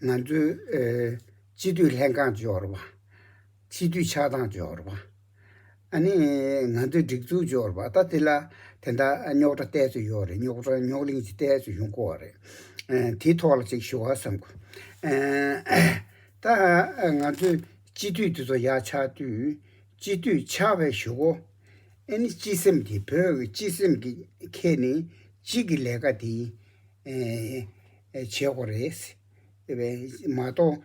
ང་ཚོའི་སྤྱི་འཐུས་ལྷན་ཁང་འབྱོར་བ། སྤྱི་འཐུས་ཆགས་སྟངས་འབྱོར་བ། ཨ་ནི་ང་ཚོའི་སྒྲིག་འཛུགས་འབྱོར་བ་ད་དེ་ལ་དེ་འདྲ་རྙོག་དྲ་གཏད་སུ་ཡོད་རེད་རྙོག་དྲ་རྙོག་གླིང་ཅིག་གཏད་སུ་ཡོང་དགོས་རེད། དེའི་ཐོག་ལ་ཅིག་ཞུ་བ་བསམ་དགོས། ད་ང་ཚོའི་སྤྱི་འཐུས་དེ་ཚོ་ཡར་ཆགས་དུས་སྤྱི་འཐུས་ཆགས་པའི་ཞུ་སྒོ། ཨ་ནི་སྤྱི་སེམས་ཀྱི་བོད་ཀྱི་སྤྱི་སེམས་ཀྱི་ཁྱེད་ནི་གཅིག་གི་ལས་ཀ་དེ། བྱེད་སྒོ་རེད། མ་གཏོགས།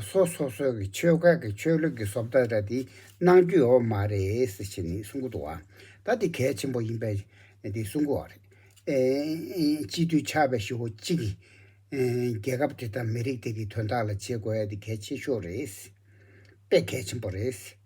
སོ་སོ་སོ་གི་ཆོལ་ཁ་གི་ཆོས་ལུགས་ཀྱི་བཟོ་ལྟ་འདྲ་དེ་གནང་རྒྱུ་ཡོད་མ་རེད་ཟེར་བཞིན་ནི་གསུང་གི་འདུག་བ་ད་དེ་གལ་ཆེན་པོ་ཡིན་པས་དེ་གསུང་གི་བ་རེད། སྤྱི་འཐུས་ཆགས་པའི་ཞུ་བ་གཅིག་རྒྱལ་ཁབ་དེ་དང་མི་རིགས་དེ་གི་དོན་དག་ལ་བྱེད་དགོས་ཡ་དེ་གལ་ཆེ་ཤོས་རེད། དཔེ་གལ་ཆེན་པོ་རེད།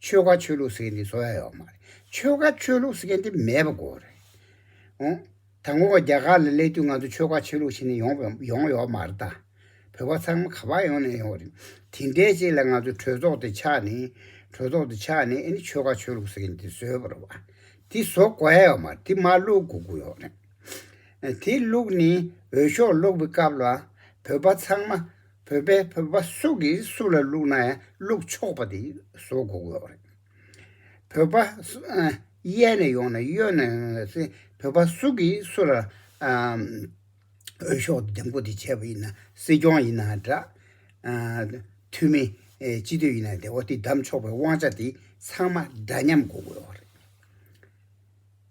ཆོལ་ཁ་ཆོས་ལུགས་ཟེར་མཁན་འདི་བཟོ་ཡག་ཡོག་མ་རེད། ཆོལ་ཁ་ཆོས་ལུགས་ཟེར་མཁན་འདི་མེད་པ་གོ་རེད། འོང། ད་ངོ་བ་རྒྱ་གར་ལ་སླེབས་དུས་ང་ཚོ་ཆོལ་ཁ་ཆོས་ལུགས་ཞེས་ནས་ཡོང་བས་ཡོང་ཡོག་མ་རེད་ད། བོད་པ་ཚང་མ་ག་པ་ཡོང་ནས་ཡོང་བ་རེད། དེ་འདྲའི་ཅིག་ལ་ང་ཚོ་གྲོས་ཚོགས་དེ་ཆགས་ནས། གྲོས་ཚོགས་དེ་ཆགས་ནས་ཨེ་ཆོལ་ཁ་ཆོས་ལུགས་ཟེར་མཁན་འདི་བཟོས་པར་བ། འདི་བཟོ་གོ་ཡག་ཡོག་མ་རེད་འདི་མ་བླུག་གོ་དགོས་ཡོག་རེད། དེ་བླུག་ནས་འོས་ཤོག་བླུག་པའི་སྐབས་ལ་བོད་པ་ཚང་མ། བོད་པའི་བོད་པ་སུ་གིས་སུ་ལ་བླུགས་ན་ཡང་བླུགས་ཆོག་པ་དེ་བཟོ་དགོས་ཀྱི་ཡོད་རེད། བོད་པ་གཡས་ནས་ཡོང་ན་གཡོན་ནས་ཡོང་ན་སྲིད་བོད་པ་སུ་གིས་སུ་ལ་འོས་ཤོག་འདེམས་བསྐོ་དེ་བྱས་པ་ཡིན་ན་སྲིད་སྐྱོང་ཡིན་ན་འདྲ། འཐུས་མི་སྤྱི་འཐུས་ཡིན་ན་དེ་བ་དེ་བདམས་ཆོག་པའི་དབང་ཆ་དེ་ཚང་མ་འདྲ་མཉམ་དགོས་ཀྱི་ཡོད་རེད།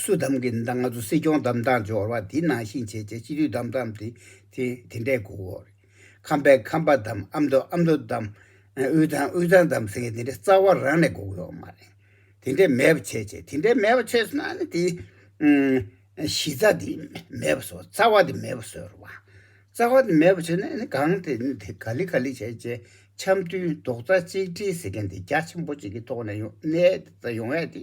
སུ་དམ་གྱི་མདའ་ང་ཚོ་སྲིད་སྐྱོང་དམ་མདའ་འབྱོར་བ་འདི་ནང་བཞིན་བྱེད་བྱེད་སྤྱི་འཐུས་དམ་དམ་དེ་དེ་དེ་འདྲས་གོ། ཁམས་པའི་ཁམས་པ་དམ་ཨ་མདོ་ཨ་མདོ་དམ། དབུས་གཙང་དབུས་གཙང་དམ་ཟེར་མཁན་དེ་འདྲས་རྩ་བ་རང་ནས་གོ་གི་ཡོད་མ་རེད། དེ་འདྲས་མེད་པ་བྱེད་བྱེད་དེ་འདྲས་མེད་པ་བྱས་སོང་ན་དེ། གཞི་རྩ་དེ་མེད་པ་བཟོ་རྩ་བ་དེ་མེད་པ་བཟོས་རོགས། རྩ་བ་དེ་མེད་པ་བྱས་ན་གང་དེ་དེ་ག་ལེ་ག་ལེ་བྱས་བྱས་འཆམ་མཐུན་རྡོག་རྩ་གཅིག་སྒྲིལ་ཟེར་མཁན་དེ་རྒྱ་ཆེན་པོ་གཅིག་གི་ཐོག་ནས་ཡོང་ནས་ཡོང་ཡ་དེ།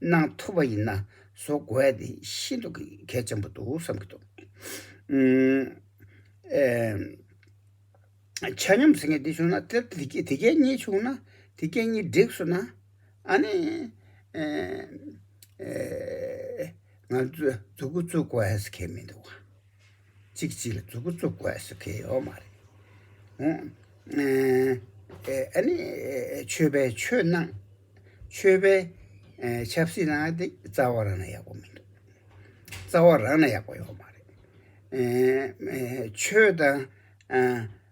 གནང་ཐུབ་པ་ཡིན་ན་བཟོ་དགོས་ཏེ་ཤིན་ཏུ་གལ་ཆེན་པོ་འདུག་བསམ་གྱི་འདུག་ཆ་སྙོམས་ཟེར་མཁན་འདི་བྱུང་ན་དེབ་དེ་གའི་གཉིས་བྱུང་ན་དེ་གའི་གཉིས་བསྒྲིགས་སོང་ན་ཨ་ནི་ང་ཚོ་འཛུགས་སྐུ་བཙུགས་དགོས་ཀྱི་མི་འདུག། ཚིག་གཅིག་ལ་རྫུ་གུ་གཙུག་དགོས་སོ་གེ་ཡོད་མ་རེད། ཨཱ་ནི། ཆོས་པས་ཆོས་གནང། ཆོས་པས་ཆབ་སྲིད་གནང་སྟེ་རྩ་བ་རང་ན་ཡག་པོ་མི་འདུག། རྩ་བ་རང་ན་ཡག་པོ་ཡོད་མ་རེད། ཆོས་དང།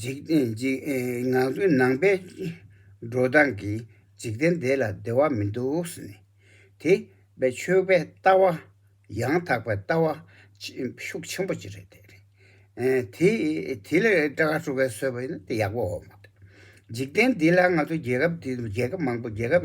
འཇིག་རྟེན་འདི་ནང་དུ་ནང་པའི་འགྲོ་སྟངས་ཀྱིས་འཇིག་རྟེན་འདི་ལ་བདེ་བ་མི་འདུག་ཟེར་ནས། དེ་བས་ཆོས་པའི་ལྟ་བ། ཡང་དག་པའི་ལྟ་བ། ཤུགས་ཆེན་པོ་བྱེད་རེ་ཐལ། དེ་ལས་སྐྲ་དཀར་ཧྲུལ་བོའི་སོལ་བ་ཡིན་ན་དེ་ཡག་པོ་འོ་མ་རེད། འཇིག་རྟེན་འདི་ལ་ང་ཚོ་རྒྱལ་ཁབ་མང་པོ་རྒྱལ་ཁབ་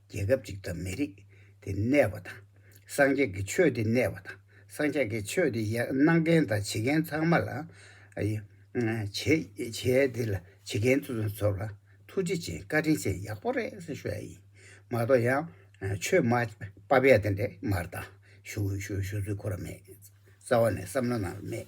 རྒྱལ་ཁབ་ཅིག་དང་མི་རིགས་དེ་གནས་པ་དང། སངས་རྒྱས་ཀྱི་ཆོས་དེ་གནས་པ་དང་སངས་རྒྱས་ཀྱི་ཆོས་དེ་གནང་མཁན་དང་བྱེད་མཁན་ཚང་མ་ལ། བྱས་དེ་ལ་བྱེད་མཁན་ཚོ་ལ་ཐུགས་རྗེ་ཅན་བཀའ་དྲིན་ཅན་ཡག་པོ་རེད་ཟེར་ཞུ་ཡ་ཡིན། མ་གཏོགས་ཡང་ཆོས་མ་དཔའ་བས་དེ་འདྲས་མར་དང་ཞུ་ཚུལ་ཁོ་ར་མེད། རྩ་བ་ནས་བསམ་བློ་གནང་ལ་མེད།